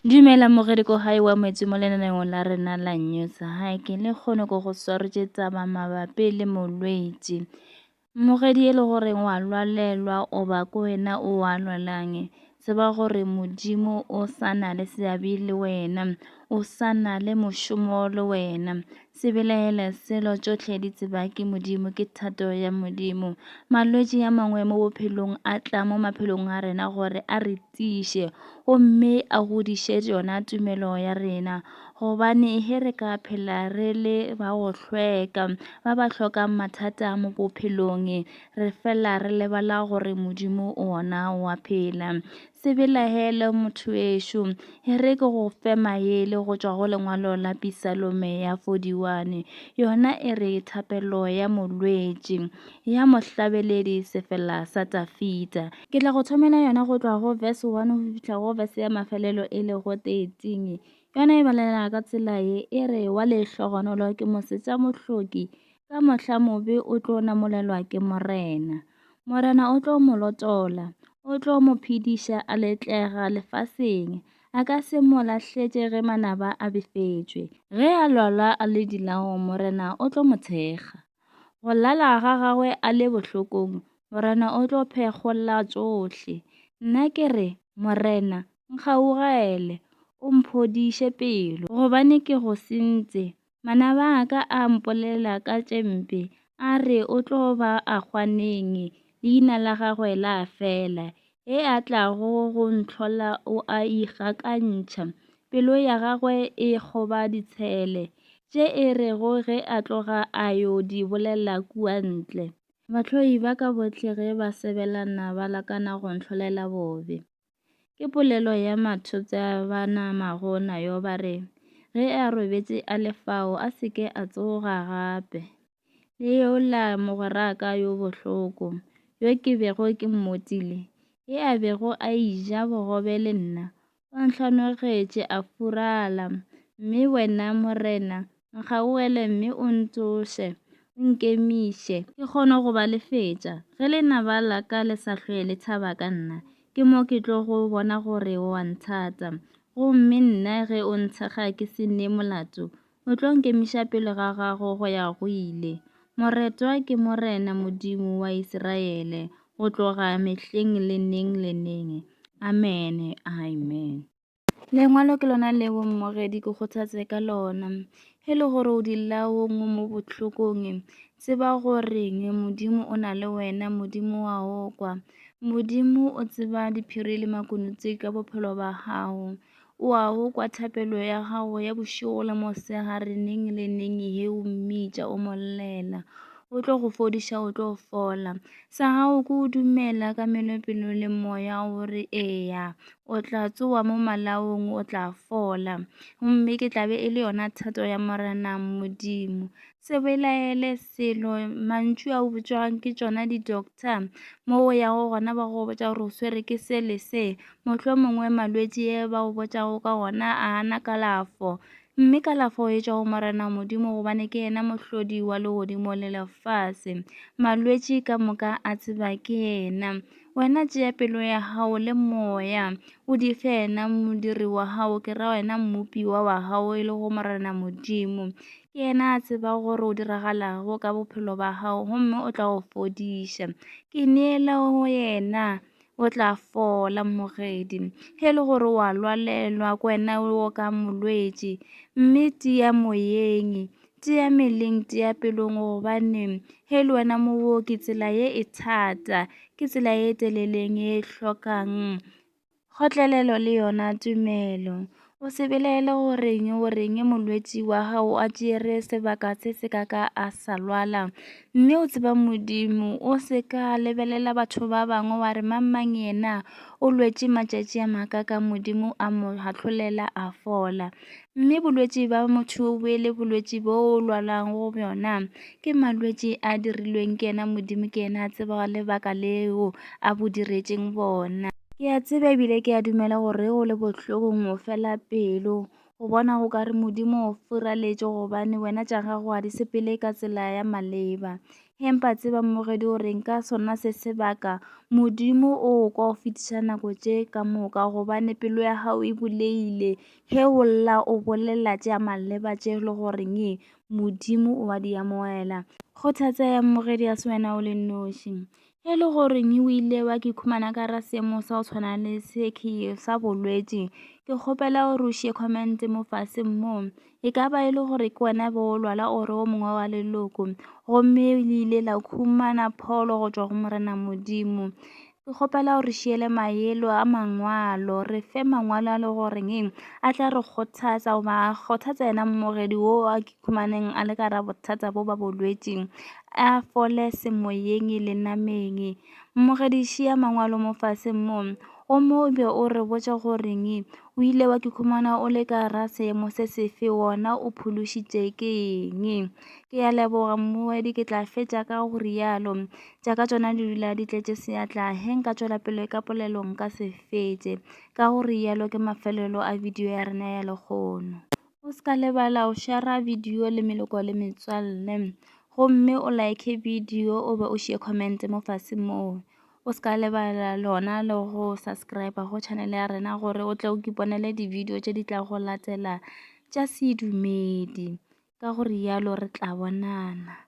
Dumela mogedi ko gae wa moetsi mo lenaneong la rena la news hi ke le kgone go go swaretse tsaba mabapi le molwetsi mogedi e le gore wa lwalelwa o ba ko wena o a lwalang se ba gore modimo o sa na le seabe le wena o sa na le mošomo le wena se belaele selo tšotlhe di tseba ke modimo ke thato ya modimo malwetsi a mangwe mo bophelong a tla mo maphelong a rena gore a re tiiše gomme a godiše yona tumelo ya rena gobane ge re ka phela re le ba go hlweka ba ba hlokang mathata mo bophelong re fela re lebala gore modimo ona wa phela se belagele motho ešo e re ke go fe maele go tšwa go lengwalo la pisalome ya 41 yona e re thapelo ya molwetši ya mohlabeledi sefela sa Tafita. Ke tla go thomela yona go tloga go verse 1 go fihla go verse ya mafelelo e le go 13. Yona e balela ka tsela ye e re wa lehlogonolo ke mosetša mohloki ka mohla mobe o tlo namolelwa ke morena. Morena o tlo mo lotola, o tlo mo phediša a letlega lefaseng. A ka se mo lahletše ge manaba a befetšwe. Ge a lwala a le dilago morena o tlo mo thekga. Go lala ga gagwe a le bohlokong, Morena o tlo phekgolla tšohle. Nna ke re, Morena, nkgaugele, o mphodiše pelo, gobane ke go sentše. Manaba a ka a mpolela ka tše mpe, a re o tlo ba a hwa neng, leina la gagwe la fela, e a tlago go ntlhola o a ikgakantšha. Pelo ya gagwe e kgoba ditshele, tše e rego ge a tloga a yo di bolela kua ntle. Bahloi ba ka bohle ge ba sebelana ba lakana go ntlholela bobe. Ke polelo ya mathopša ba namago nayo ba re, Ge a robetše a le fao a se ke a tsoga gape. le yola mogweraka yo bohloko, yo ke bego ke mmotile, e a bego a ija bogobe le nna, o nhlanogetše a furala. Mme wena, Morena, nkgaogele mme o ntsoše, o nkemiše, ke kgone go ba lefetša, ge lenaba la ka le sa hlwe le thaba ka nna, ke mo ke tlogo bona gore o a nthata. Gomme nna ge o nthekga ke se ne molato, O tlo nkemiša pele ga gago go ya go ile. Moretwa ke Morena Modimo wa Isiraele go tloga mehleng le neng le neng. Amene. Amen. Lengwalo ke lona leo mmogedi ke kgothatse ka lona. E le gore o dilaong o mo bohlokong, tseba goreng Modimo o na le wena, Modimo wa o kwa. Modimo o tseba diphiri le makunutswe ka bophelo ba gago. O a go kwa thapelo ya gago ya bošego le mosegare neng le neng he o mmitša o mo llela. O tlo go fodiša, o tlo fola. Sa gago ke o dumela ka melopelo le moya o re eya. O tla tsoa mo malaong, o tla fola. Gomme ke tla be e le yona thato ya Morena Modimo. Se belaele selo mantšu a o botšwago ke tšona di-doctor mo o yago gona ba go botša gore o swere ke se le se mohlwa mongwe malwetši e ba go botšago ka gona a ana kalafo mme kalafo e tšwa go morena modimo gobane ke yena mohlodi wa legodimo le lefase malwetši ka moka a tseba ke yena wena tšea pelo ya gago le moya o di fe yena modiri wa gago ke ra wena mmopiwa wa gago e le go morena modimo Ke yena a tseba gore o diragalago ka bophelo ba gago gomme o tla go fodiša. Ke neele go yena o tla fola mogedi ge le gore wa lwalelwa ko wena o ka molwetši mme tia moyeng tia meleng tia pelong gobane ge le wena mooki tsela ye e thata ke tsela e teleleng e hlokang Kgotlelelo le yona tumelo. O se belaele goreng goreng molwetši wa gago a tšere sebaka se se ka ka a sa lwala mme o tseba modimo o se ka lebelela batho ba bangwe wa re mang mang yena o lwetše matšatši a maka ka modimo a mo hahlolela a fola Mme bolwetši ba motho o be le bolwetši bo o lwalang go bjona ke malwetši a dirilweng ke yena Modimo ke yena a tseba lebaka leo a bo diretšeng bona. Ke a tseba ebile ke a dumela gore o le bohlokong o fela pelo go bona go ka re Modimo o furaletše gobane wena tša gago a di sepele ka tsela ya maleba. Empa tseba mmogedi o reng ka sona se sebaka Modimo o kwa go fetiša nako tše ka moka gobane pelo ya gago e bulegile Ge o lla o bolela tša maleba tše e le goreng Modimo o a di amogela. Kgothatsa ya mmogedi ya se wena o le noši. Ge e le goreng o ile wa ke khumana ka ra seemo sa go tshwana le se ke sa bolwetši, ke kgopela gore o šie comment mo fase mo. E ka ba e le gore ke wena be o lwala o re o mongwe wa leloko, gomme le ile la khumana pholo go tšwa go Morena Modimo. Ke kgopela gore šiele maelo a mangwalo re fe mangwalo a le goreng eng a tla re kgothatsa goba a kgothatsa yena mmogedi wo a ke khumaneng a le ka ra bothata bo ba bolwetseng a fole semoyeng le nameng mmogedi šiya mangwalo mo fase mo o mo be o re botša goreng o ile wa ke khumana o le ka ra seemo se sefe wona o phološitše ke eng ke ya leboga mmoedi ke tla fetša ka go rialo tša ka tšona di dula di tletše seatla ge nka tšwela pele ka polelo nka se fetše, ka go rialo ke mafelelo a bidio ya rena ya lekgono. O se ka lebala go šara bidio le meloko le metswalle gomme o like bidio o be o šie comment mo fase moo. O se ka lebala lona le go subscribe go channel ya rena gore o tle o ke iponele dibidio tše di tla go latela tša sedumedi, ka go rialo re tla bonana.